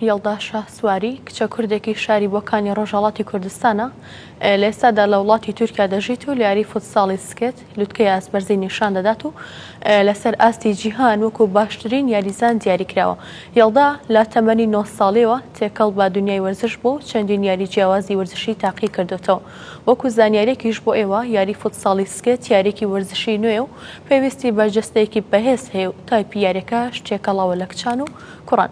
یەڵدا شاسواری، کچە کوردێکی شاری بۆکانی ڕۆژهەڵاتی کوردستانە، لە ئێستادا لە وڵاتی تورکیا دەژیت و لە یاری فوتساڵی سکێت، لوتکەی ئاستبەرزی نیشان دەدات و لەسەر ئاستی جیهان وەکو باشترین یاریزان دیاریکراوە. یەڵدا لە تەمەنی نۆ ساڵییەوە تێکەڵ بە دونیای وەرزش بووە و چەندین یاری جیاوازی وەرزشی تاقی کردۆتەوە. وەکو زانیارییەکیش بۆ ئێوە، یاری فوتساڵی سکێت یارییەکی وەرزشی نوێیە و پێویستی بە جەستەیەکی بەهێز هەیە و تایپی یارییەکەش تێکەڵاوە لە کچان و کوڕان.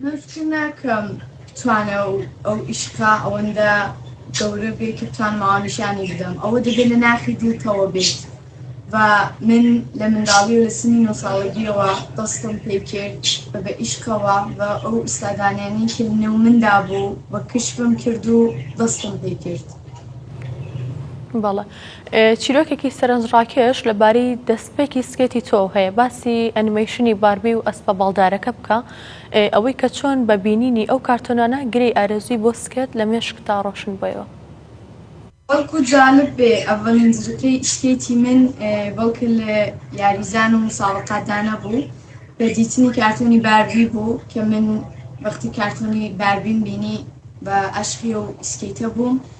من فکر ناکەم بتوانێ ئەو ئیشقە ئەوەندە گەورە بێ کە بتوانم ئەوان نیشانی بدەم ئەوە دەبێت لە ناخی دیتەوە بێت و من لە منداڵی و لە سنی نۆ ساڵەگیەوە دەستم پێ کرد بە بە ئیشقەوە بە ئەو ئوستادانیانی کە نێو مندا بوو بە کشفم کرد و دەستم پێ کرد بەڵە چیرۆکێکی سەرنجڕاکێش لەبارەی دەستپێکی سکێتی تۆو هەیە، باسی ئەنیمەیشنی باربی و ئەسپە باڵدارەکە بکە، ئەوەی کە چۆن بە بینینی ئەو کارتۆنانە گرێی ئارەزووی بۆ سکێت لە مێشکتدا ڕۆشن بۆیەوە. بەڵکو جالب بێ ئەڤلین زرکەی سکێتی من بەڵکە لە یاریزان و مسابقاتدا نەبوو بە دیتنی کارتۆنی باربی بوو کە من وەختی کارتۆنی باربیم بینی بە ئەشقی ئەو سکێتە بووم،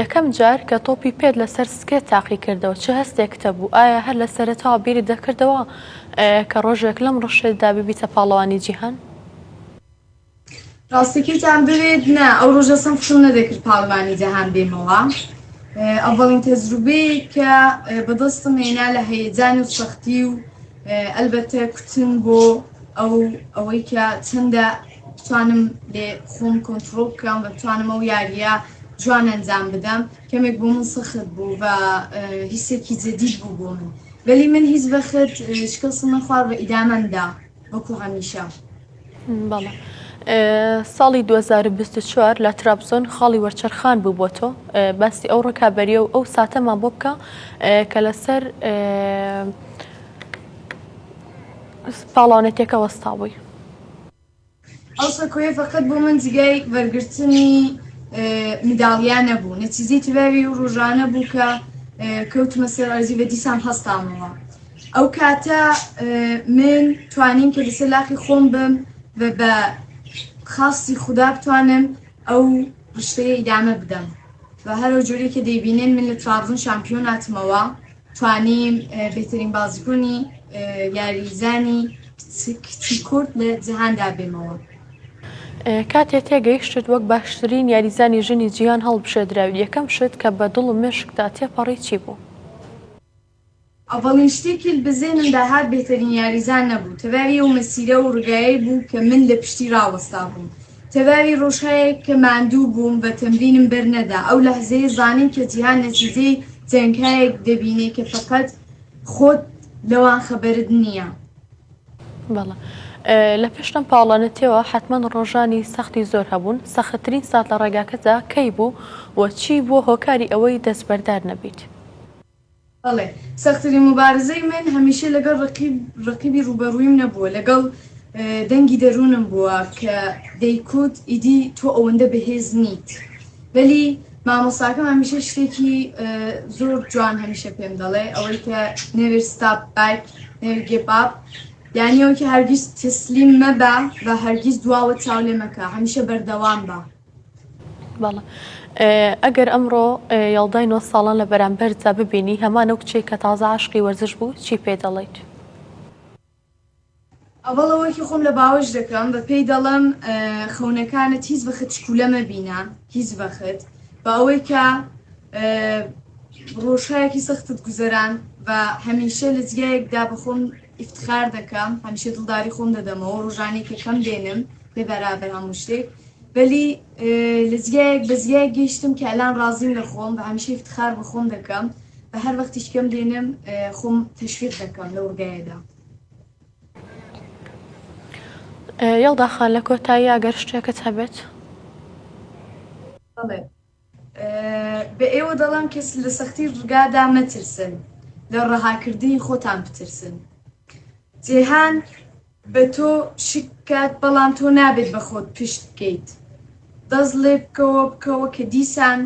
یەکەم جار کە تۆپی پێت لەسەر سکێ تاقی کردەوە چ هەستێکتە بوو ئایا هەر لە سەرەتاوە بیری دەکردەوە کە ڕۆژێک لەم ڕشێدا ببیتە پاڵەوانی جیهان؟ ڕاستەکیتان بوێت نا ئەو ڕۆژە سم خشم نەدەکرد پاڵمانی جەهان بێمەوە ئەڤڵین تەزروبێ کە بەدەستم هێنا لە هەیەجان و سەختی و ئەلبەتە کوتن بۆ ئەو ئەوەی کە چەندە بتوانم لێ خۆم کۆنتڕۆڵ بکەم و بتوانم ئەو یاریە جوان ئەنجام بدەم کەمێک بۆ من سەخت بوو بە هیسێکی جدیش بوو بۆ من وەلی من هیچ بەخت شکەسم نەخوار بە ئیدامەندا وەکو هەمیشە بەڵە. ساڵی 2024 لە ترابزۆن خاڵی وەرچەرخان بوو بۆ تۆ باسی ئەو ڕکابەریە و ئەو ساتەمان بۆ بکە کە لەسەر پاڵاونەتەکە وەستابووی. ئەو سەکۆیە فەقەت بۆ من جیگای وەرگرتنی مداڵیا نەبوو، نەچیزەی تەواوی ئەو ڕۆژانە بوو کە کەوتمە سەر ئەرزی و دیسان هەستامەوە. ئەو کاتە من توانیم کە لەسەر لاقی خۆم بم و بە خواستی خودا بتوانم ئەو ڕشتەیە ئیدامە بدەم و هەر ئەو جۆرەی کە دەیبینن من لە ترابزۆن شامپیۆن هاتمەوە، توانی بهترین بازکونی یاریزانی کچی کورد لە جیهاندا بێمەوە. کاتێ تێگەیشتت وەک باشترین یاریزانی ژنی جیهان هەڵبژێدراوی یەکەم شت کە بە دڵ و مێشکتا تێپەڕی چی بوو؟ ئەڤەڵین شتێکی لبە زێنمدا هات بهترین یاریزان نەبوو تەبا ێەو مەسیرە و رگایەی بوو کە من لە پشتی راوەستابووم تەواوی ڕۆژهایەک کە ماندوو بووم بە تەمرینم بەر نەدا، ئەو لەحزەیە زانیم کە جیهان نەتیجەی جەنگهایەک دەبینێ کە فەقەت خۆت لەوان خەبەرت نییە. بەڵێ لە پێش لەم پاڵەنتیەوە حەتمەن ڕۆژانی سەختی زۆر هەبوون، سەختترین سات لە ڕێگاکەتدا کەی بوو و چی بووە هۆکاری ئەوەی دەستبەردار نەبیت؟ بەڵێ، سەختترین موبارزەی من هەمیشە لەگەڵ ڕەقیب، ڕەقیبی ڕووبەڕوویم نەبووە، لەگەڵ دەنگی دەروونم بووە کە دەیکوت ئیدی تۆ ئەوەندە بەهێز نیت. بەلی مامۆستاکەم هەمیشە شتێکی زۆر جوان هەمیشە پێم دەڵێ، ئەوەی کە نێڤێر ستاپ بەک، نێڤێر گێڤ ئاپ، یانی ئەوەی کە هەرگیز تەسلیم مەبە و هەرگیز دواوە چاو لێ مەکە، هەمیشە بەردەوام بە. ئەگەر ئەمڕۆ یاڵدای نۆ ساڵان لە بەرامبەردا ببینی هەمان ئەو کچێک کە تازە عاشقی وەرزش بوو چی پێ دەڵێیت؟ ئەوەڵە وەرکی خۆم لە باوەش دەکەم بە پێی دەڵم خەونەکانت هیچ بەخت شکولە مەبینە هیچ بەخت بە ئەوەی کە ڕۆژهایەکی سەختت گوزەران بە هەمیشە لە جگایەکدا بەخۆم ئیفتخار دەکەم هەمیشە دڵداری خۆم دەدەمەوە ڕۆژانەی کە کەم دێنم بێ بەرابەر هەموو شتێک بەلی لە جگایەک بە جگایەک گەیشتم کە ئەلان ڕازیم لە خۆم بە هەمیشە ئیفتخار بە خۆم دەکەم بە هەر وەختیش کەم دێنم خۆم تەشویق دەکەم لەو ڕگایەدا یەڵداخان لە کۆتایی ئەگەر شتێکت هەبێت بەڵێ بە ئێوە دەڵێم کە لە سەختی ڕگادا مەترسن، لە ڕەهاکردنی خۆتان بترسن. جیهان بە تۆ شک بکات، بەڵام تۆ نابێت بە خۆت پشت بکەیت. دەست ڵێبکەوە، بکەوە کە دیسان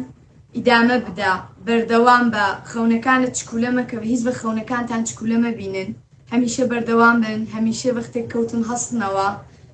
ئیدامە بدە، بەردەوام بە، خەونەکانت چکولە مەکە، هیچ بە خەونەکانتان چکولە مەبینن، هەمیشە بەردەوام بن، هەمیشە وەختێک کەوتن هەستنەوە،